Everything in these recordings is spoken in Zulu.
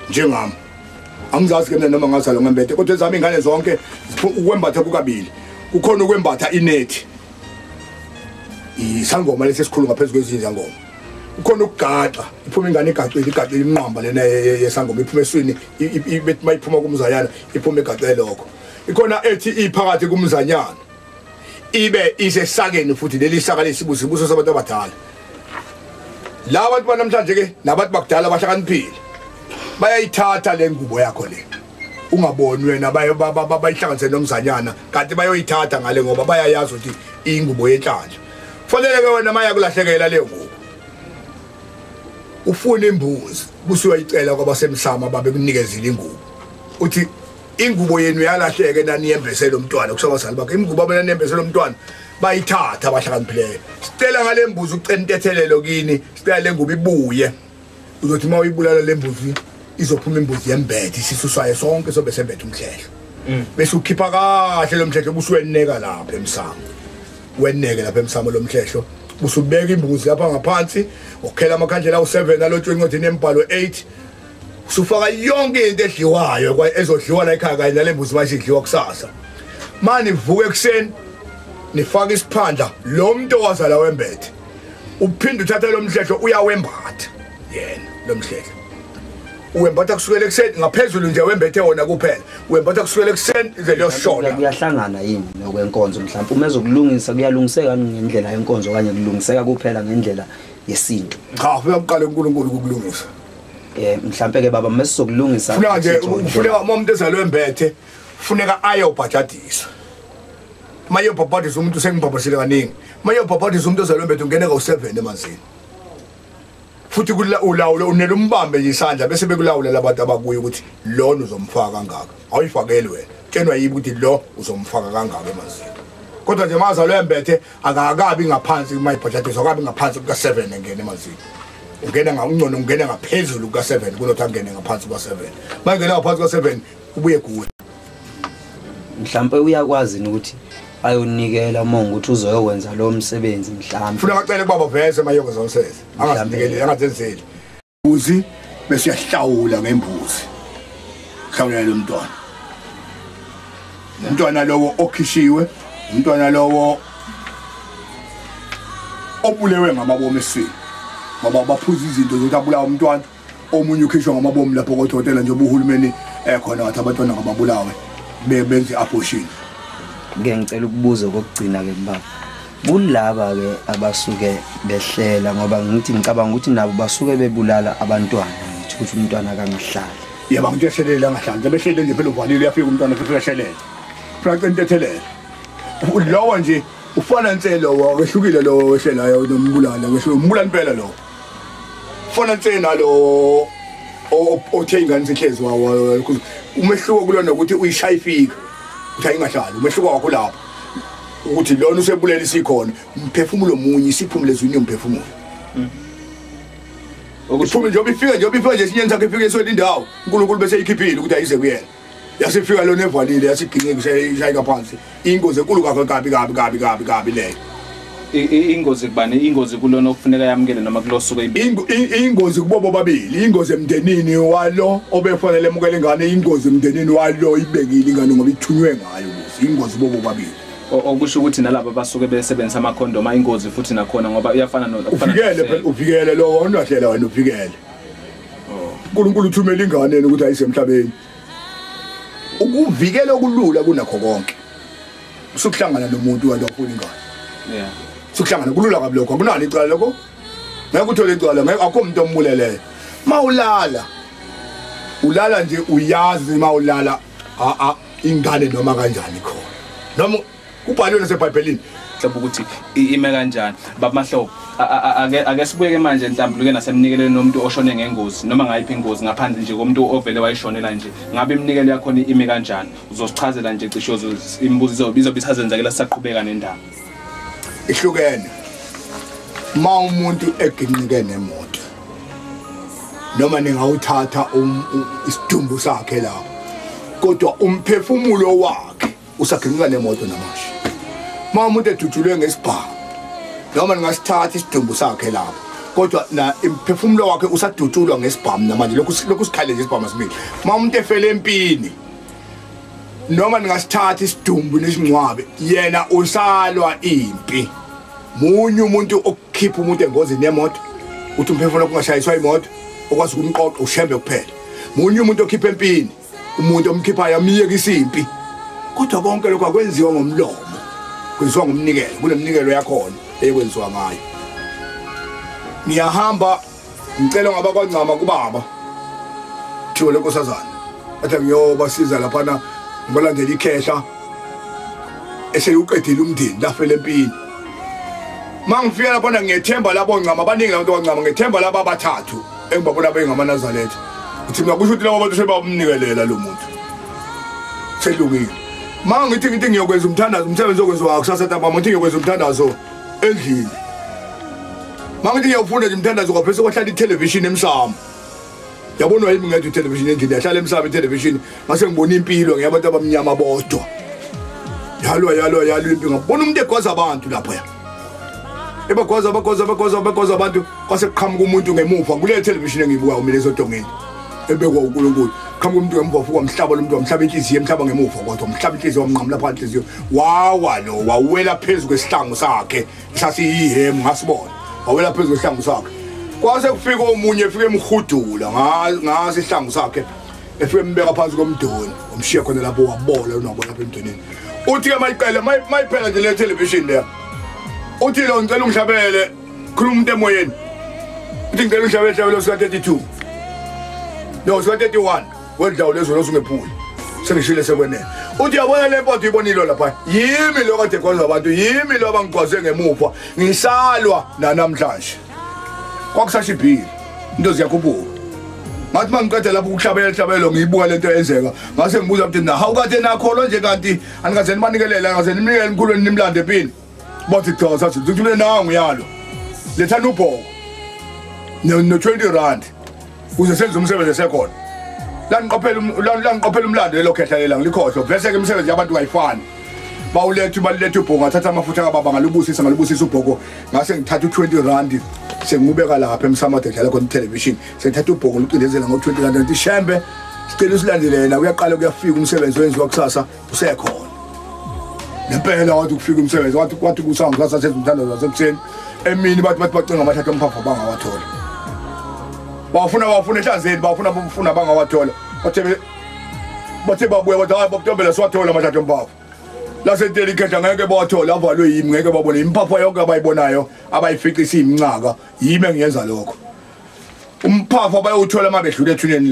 njengami angizazi ke mina noma ngazalwa ngembethe kodwa ezami ingane zonke ukwembatha kukabili kukhona ukwembatha inethi isangoma lesi esikhulu ngaphezu kwezinye zangoma ukhona ukugaxa iphuma ingane igaxile igaxile imnqamba lena yesangoma iphuma eswini ibethi mayiphuma kumzayana iphuma egaxe lokho ikhona ethi iphakathi kumzanyana ibe isesakeni futhi leli saka lesibuso ibuso sabantu abadala la bantu banamhlanje ke nabantu bakudala bahlakaniphile bayayithatha le ngubo yakho le ungaboni wena bayihlanganise nomzanyana kanti bayoyithatha ngale ngoba bayayazi ukuthi iyingubo yenhlanhla fanele ke wena maya kulahlekela leyo ngubo ufuna imbuzi busuyoyicela kwabasemsama babekunikezile ingubo uthi ingubo yenu yalahleke naniyembesele umntwana kusho abazali bakhe imigubo abona niyembesele umntwana bayithatha abahlakaniphileyo sicela ngale mbuzi ucela intethelelo kini sicela le ngubo ibuye uzothi uma uyibulala le mbuzi izophuma imbuzi yembethe isisu sayo sonke sobe sembethe umhlehlo mm. bese ukhipha kahle lo mhlehlo busuweneka lapha emsamo weneke lapha emsamo lo mhlehlo busubeka imbuzi lapha ngaphansi ukhela amakhandlela awu-7 alotshwe encwadini embhalo 8 sufaka yonke into edliwayo ezodliwa la ekhaya kanye nale mbuzi manje idliwa kusasa mani vuke ekuseni nifaka isiphandla lo muntu owazala wembethe uphinde uthatha lo mhlehlo uyawembatha yena lo mhlehlo wembatha kusukela ekuseni ngaphezulu nje wembethe wona kuphela wembatha kusukela ekuseni ize liyoshona kuyahlangana yini nokwenkonzo mhlawumbe uma ezokulungisa kuyalungiseka ngendlela yenkonzo okanye kulungiseka kuphela ngendlela yesintu cha uyakuqala uNkulunkulu ukulungisa eh mhlambe ke baba mesizokulungisa funeka nje funeka uma umuntu ezalwe embethe funeka aye ubhajadisa maye ubhajadisa umuntu sengibhabhasile kaningi maye ubhajadisa umuntu ezalwe embethe ungene ka u7 emanzini futhi kula ulawulo unele umbambe nje isandla bese bekulawula labantu abakuye ukuthi lona uzomfaka kangaka awuyifakeli wena tshenwa yibi ukuthi lo uzomfaka kangaka emanzini kodwa nje mazalwe embethe akakabi ngaphansi kumayibhajadisa akabi ngaphansi kuka-seven engena emazini ungena ngauncono ungena ngaphezulu kuka-seven kunothi angene ngaphansi kuka-seven uma ngena ngaphansi kuka-seven ubuye kuwe mhlawumpe uyakwazi ni ukuthi ayonikela uma ngukuthi uzoyowenza lowo msebenzi mhlawumbe funa bacele kubaba vese mayoko zonsezi angazenzeli mbuzi bese uyahlawula ngembuzi hlawulela lo mntwana umntwana lowo okhishiwe umntwana lowo obulewe ngamabomu esini ngoba baphuza izinto zokuthi abulawa umntwana omunye ukhishwa ngamabomu lapho kodokotela njengoba uhulumeni ekhona wathi abantwana ngababulawe benze i-abortion ngicela ukubuza okokugcina-ke mbaba kulaba ke abasuke behlela ngoba ngithi ngicabanga ukuthi nabo basuke bebulala abantwana ngithi ukuthi umntwana akangahlali yaba ngithi eselela ngahlanje behlele nje phela uvalile uyafika umntwana futhi uyashelela flaqa intethelele lowo nje ufana nse lowo wehlukile lowo wehlelayo nombulala wehlukile umbulala impela lowo fana nse nalowo othe ingane sihlezi wawo umehluko kulona ukuthi uyishaya ifika ukuthi ayingahlali umehluko wakho lapho ukuthi lona usebulele isikhona umphefumulo munye isiphumule ezwini yomphefumulo mm. ukuphuma njengoba ifika njengoba ifika nje esinyeni sakhe ifika esweni indawo unkulunkulu bese eyikhiphile ukuthi ayize kuyena yasifika lona evalile yasiginqika ishayeka phansi ingozi enkulu kakho kabi kabi kabi kabi kabi leyo ingozi kubani ingozi kulona okufuneka yamukele noma kulosuku ingozi kubo bobabili ingozi emndenini walo obefanele emukele ingane ingozi emndenini walo ibekile ingane ngoba ithunywe ngayo ukuthi ingozi kubo bobabili okusho ukuthi nalabo basuke besebenzisa amakhondom ayingozi futhi nakhona ngoba uyafana nokufanele phela uvikele lo wonwahlela wena uvikele oh. uNkulunkulu uthumela ingane ukuthi ayisemhlabeni ukuvikela okulula kunakho konke usukuhlangana nomuntu wena ofuna ingane yeah sukuhlangana kulula kabi lokho akunalo icala lokho ngeke uthole icala ngeke akho umuntu ombuleleyo mawulala ulala nje uyazi mawulala a a ingane noma kanjani khona noma kubhaliwe nasebhayibhelini mhlawumbe ukuthi ime kanjani babamahlobo ake sibuyeke manje enhlambuluke nasemnikelweni nomuntu oshone ngengozi noma ngayiphi ingozi ngaphandle nje komuntu ovele wayishonela nje ngabe iminikelo yakhona imi kanjani uzosichazela nje cisho imibuzo izobe izobe isazenzakela sisaqhubeka nendaba ihlukene ma umuntu eginqike nemoto noma ningawuthatha um, isidumbu sakhe la kodwa umphefumulo wakhe usaginqika nemoto namasha ma umuntu edutshulwe ngesibhamu noma ningasithatha isidumbu sakhe lapho kodwa na imphefumulo wakhe usadutshulwa ngesibhamu namanje lokhu lokhu sikhale nje isibhamu sibili ma umuntu efele empini noma ningasithatha isidumbu nesingcwabe yena usalwa impi munye umuntu okukhipha umuntu engozini yemoto uthi umphefumulo kungashayiswa imoto okwazi ukumqoqa ushembe kuphela munye umuntu okhipha empini umuntu omkhiphayo amiyeka isimpi kodwa konke lokho akwenziwa ngomlomo kwenziwa ngomnikelo kunemnikelo yakhona eyekwenziwa ngayo ngiyahamba ngicela ngabakwancama kubaba thiwo lenkosazana athi ngiyobasiza laphana ngibalandela ikhehla eseliwuqedile umndeni lafela empini uma ngifika laphana ngiyethemba labo ncama abaningi labantu bancama ngethemba laba abathathu engibabona bengamanazaletha ukuthi mina kusho ukuthi labo bantu sebamnikelela lo muntu selungile uma ngithi ngithi ngiyokwenza umthandazo umsebenzi okwenziwa kusasa ntambama ngithi ngiyokwenza umthandazo endlini mangithi ngiyawufunda nje mthandazo kwaphese kwahlala ithelevishini emsamo yabonwa yimi ngedwa ithelevishini endlini yahlala emsamo ithelevishini ngase ngibona impilo ngeyabantu abamnyama bodwa yalwa yalwa yalwa impi ngabona umuntu egwaza abantu lapho ya ebagwaza abagwaza abagwaza abagwaza abantu kwase kuqhamuka umuntu ngemuva kule television engiyibukayo mina ezodongeni ebekwa uNkulunkulu qhamuka umuntu wembofu kwamhlaba lomuntu wamhlaba inhliziyo emhlaba ngemuva kodwa umhlaba inhliziyo wamnqamula phakathi inhliziyo wawa lo wawela phezu kwesihlangu sakhe sasiyihemu ngasibona wawela phezu kwesihlangu sakhe kwase kufika omunye efike emhudula ngase isihlangu sakhe efike embeka phansi komdoni umshiye khona lapho wabola unabona lapha emdonini uthi ke mayiqela mayiphela nje le television le uthi lo ngicela ungihlabele khuluma umuntu emoyeni uthi ngicela uhlaba ehlabelo sika-32 no sika-31 wedlawu lezwe losungephuli sengishile sekwenele uthi yabona le mpoto ibonilo lapha yimi lo kade gwaza abantu yimi lo abangigwaze ngemuva ngisalwa nanamhlanje kwakusashibhile into ziyakhuphuka ngathi uma ngiqeda lapho ukuhlabela ihlabelo ngiyibuka le nto yenzeka ngase ngibuza ukuthi na hawu kade nakholwa nje kanti anikaze nibanikelela angaze nimnikele emkhulweni nimlande empini bathi cha sathi ngithumele nangu yalo lethani ubhoko no-20 rand kuze senze umsebenzi esekhona langiqophela umlando lelo khehla lelanga likhohlwa vese-ke imisebenzi yabantu kayifani bawuletha baluletha ubhoko ngathatha amafutha kababa ngalubusisa ngalubusisa ubhoko ngase ngithatha u-20 rand sengibeka lapha emsamade dlala khona ithelevishini sengithatha ubhoko ngicindezela ngo-20 rand ngithi shembe sicela usilandelela uyaqala kuyafika umsebenzi owenziwa kusasa usekhona ngempela wathi ukufika umsebenzi wathi wathi kusangu sasasezimthandazo zasekuseni emini bathi bathi bacinga amathatha omphapha bangawathola bawafuna bawafuna ehlanzeni bawafuna bafuna bangawathola bathe bathe babuya bathi hayi bakutombela siwathola amathatha omphapha lasedelikhetha ngeke bawathole avalwe yimi ngeke babone imphapha yonke abayibonayo abayifica isiyiminxaka yimi engiyenza lokho umphafa bayowuthola uma bedlula ethuneni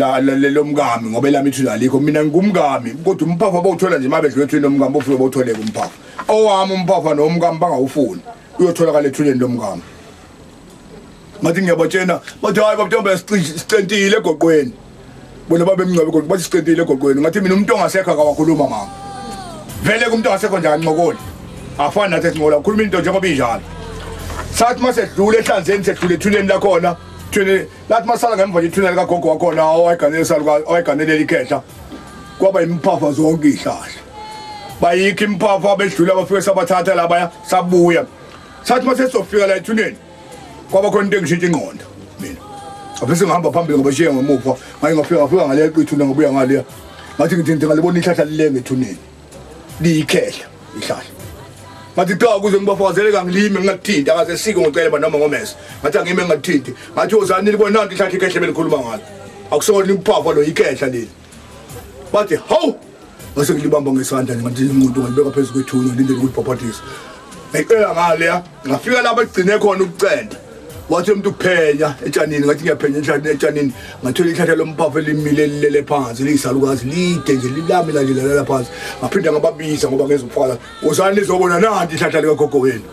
lomkami ngoba elami ithuna alikho mina ngingumkami kodwa umphafa bawuthola nje uma bedlula ethuneni lomkami bofike bawutholeke umphafa owami umphafa nomkami bangawufuni uyotholakala ethuneni lomkami ngathi ngiyabatshena bathi hhayi babntombe sicentile egoqweni bona babemnqobe kodwa bathi siqedile egoqweni ngathi mina umuntu ongasekho akawakhuluma mama vele kumuntu ongasekho nje anqokoli afani nathi esinqola ukhuluma into njengoba injalo sathi uma sedlula ehlanzeni sedlula ethuneni lakhona thuneni lathi uma sala ngemva nje ithuneni likagogo wakhona owayiganelela ikhehla kwaba yimphapha zonke ihlahla bayikho imphapha bedlula bafike sabathatha labaya sabuya sathi uma sesizofika la ethuneni kwaba khona into engishintsha ingqondo mina abese ngihamba phambili ngabashiya ngemuva ngaye ngafika ngafika ngaleya qithuna ngabuya ngaleya ngathi ngithi ngithi ngalibona ihlahla lilenge ethuneni liyikhehla ihlahla ngathi cha kuze ngibafakazele kangilime ngingathinti akaze sike ngocele banoma ngomese ngathi angime ngingathinti ngathi ozani libona nanti ihlahla ikhehle belikhuluma ngalo akusona imphafa lo yikhehla leli wathi hawu ngase ngilibamba ngesandla nje ngathi umuntu ngalibeka phezu kwethuna ngilindele ukulibhabhadisa ngiqela ngaleya ngafika lapho egcine khona ukucenda wathi umuntu uphenya etshanini ngathi ngiyaphenya enhlathini etshanini ngathola ihlathela lomphafa elimile lilele phansi liyisalukazi lide nje lilami la nje lalela phansi ngaphinde ngababiza ngoba ngezofala wozani lizobona nandi ihlathela likagogo wenu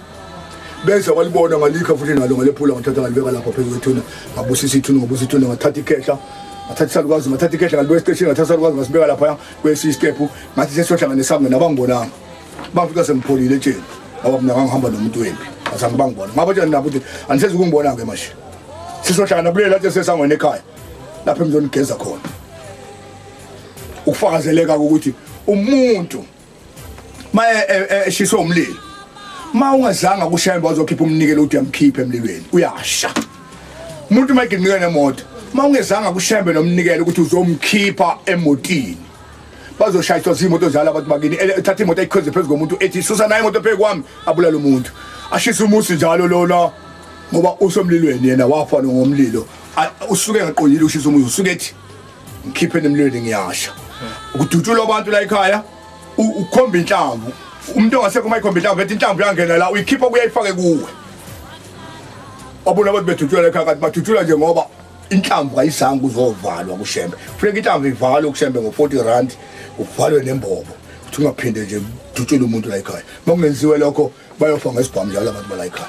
beza walibona ngalikha futhi nalo ngalephula ngathatha ngalibeka lapha phezu kwethuna ngabusisa ithuna ngobusa ithuna ngathatha ikhehla ngathatha isalukwazi ngathatha ikhehla ngalibeka esiteshini ngathatha isalukwazi ngasibeka laphaya kwesiyi isitepu ngathi sesiyohlangane sami mina bangibonanga bangifika sengipholile etsheni ngoba mina ngangihamba nomuntu wembi azange bangibona ngaba tshani nabo ukuthi anisezi ukungibona-ke manje sizohlangana kuleli lathi esesangweni ekhaya lapho emzonigeza khona ukufakazeleka ukuthi umuntu maye eh, eh, eh, eshiswe umlilo ma ungazanga kushaya imba uzokhipha umnikelo uthi yamkhiphe emlilweni uyasha umuntu uma eginika nemoto ma ungezanga kushembe nomnikelo ukuthi uzomkhipha emotini bazoshayiswa zimoto zala abantu bakini ethatha imoto eyikhweze phezu komuntu ethi susa naye imoto phezu kwami abulala umuntu ashisa umusi njalo lona ngoba usomlilweni yena wafa ngomlilo usuke engaqondile ushisa umuzi usuke ethi ngikhipheni emlweni ngiyasha ukudutshula abantu la ekhaya ukhomba inhlamvu umuntu ongasekho uma ikhomba inhlamvu ethi inhlamvu yangena la uyikhipha kuyayifake kuwe wabona abantu bedutshula la ekhaya kanti badutshula nje ngoba inhlamvu kayizange uzovalwa kushembe funeka inhlamvu ivalwe kushembe ngo-40 rand uvalwe nembobo ukuthi ungaphinde nje dutshule umuntu la ekhaya uma kungenziwe lokho bayofa ngesibhamu njalo abantu bala ekhaya